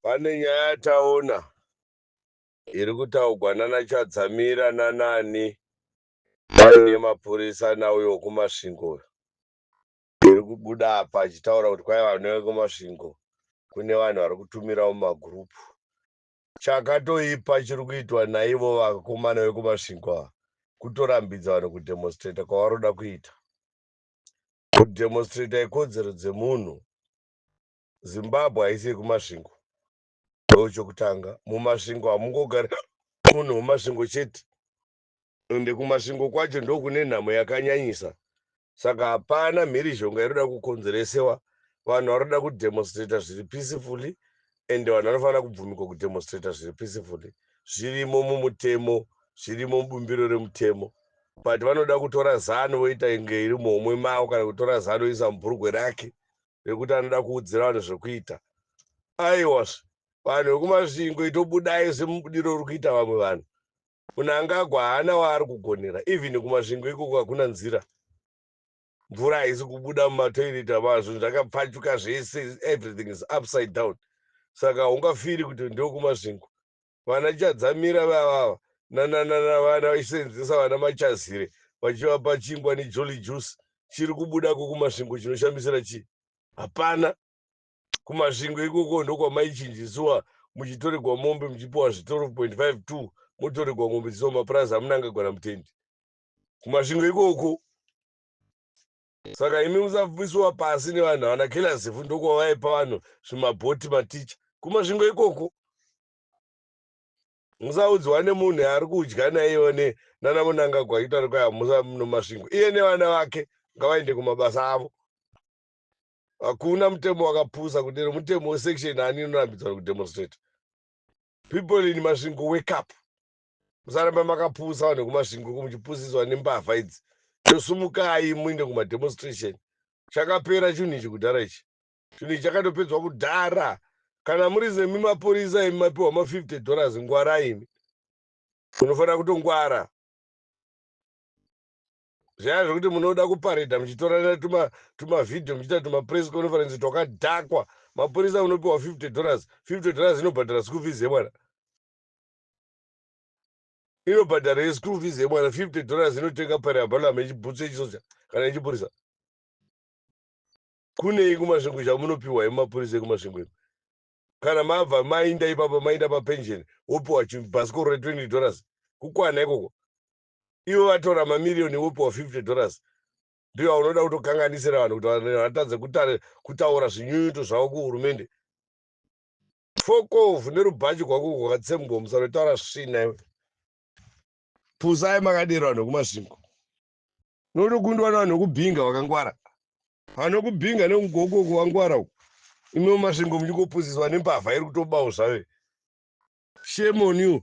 Pane nyaya yataona iri kutaugwa nana Chadzamira nanani vaine mapurisa nauyo wekumasvingo uyo iri kubuda apa achitaura kuti kwai vane wekumasvingo kune vanhu vari kutumirawo mumagurupu chakatoipa chiri kuitwa naivo vakomana vekumasvingo ava kutorambidza vanhu kudemonstrata kwavaroda kuita kudemonstrator ikodzero dzemunhu zimbabwe haisi yekumasvingo ndo chokutanga mumasvingo hamungogari munhu wemasvingo chete ende kumasvingo kwacho ndokune nhamo yakanyanyisa saka hapana mhirizhonga inoda kukonzeresewa vanhu vanoda kudemonstrator zviri peacefully and vanhu vanofanira kubvumikwa kudemonstrator zviri peacefully zvirimo mumutemo zvirimo mubumbiro remutemo but vanoda kutora zano voita inge iri muhomwe mavo kana kutora zano isa mubhurugwe rake rekuti anoda kuudzira vanhu zvekuita aiwas vanhu vekumasvingo itobudai semubudiro uri kuita vamwe vanhu munangagwa haana waari kugonera even kumasvingo ikoko hakuna nzira mvura haisi kubuda mumatoilet amaa zvinhu zvakapfachuka zvese everything is upside down saka haungafiri kuti ndokumasvingo vana chadzamira vavava nananana vana vachiseenzesa vana machazire vachivapa chingwa nejolly juice chiri kubuda kokumasvingo chinoshamisira chii hapana kumasvingo ikoko ndokwamaichinjisiwa muchitoregwa mombe muchipiwa zvitorofo 25 2 motoregwa mombe dziwa mapurazi amunangagona mutendi kumasvingo ikoko saka imi musapisiwa pasi nevanhu havana kelazifu ndokwavaipa vanhu zvimabhoti maticha kumasvingo ikoko musaudzwa nemunhu yaari kudya naiyo nana munangagwa achiti ari kwaya musa nomasvingo iye nevana vake ngavaende kumabasa avo hakuna mutemo wakapusa kudero mutemo wesection ani inorambidzwa kudemonstrate people in masvingo wake up musaramba makapusa vanhu vekumasvingo uko muchipusiswa nembavha idzi chosumukai muinde kumademonstration chakapera chinhu ichi kudhara ichi chinhu ichi chakatopedzwa kudhara kana muri zemi mapurisa imi mapiwa ma 50 dollars ngwara imi munofanira kutongwara zvaya zvekuti munoda kuparedha muchitorana tuma tuma video muchiita tuma press conference twakadhakwa mapurisa munopiwa 50 dollars 50 dollars inobhadhara school fees yemwana inobhadhara yeschool fees yemwana 50 dollars inotenga pari abalamu yechibhutsu yechisoja kana yechipurisa kunei kumasvingo chamunopiwa yemapurisa ekumasvingo imi kana mabva mainda ipapa mainda papension wopiwa bhasikoro re 20 dollars kukwana ikoko ivo vatora mamiriyoni wopiwa 50 dollars ndiyo aunoda kutokanganisira vanhu kuti vatadze kutaura zvinyunyuto zvavo kuhurumende Fokov nerubhachi gwako uko katsembo musanotaura svina iwe. Pusai makadero vanhu vekumasvingo. Notokundwa navanhu vekubhinga vakangwara. Vanhu vekubhinga nekugoko uko vangwara uko. Imi mumasvingo muchingopusiswa nembavha iri kutobawo zvave. Shame on you.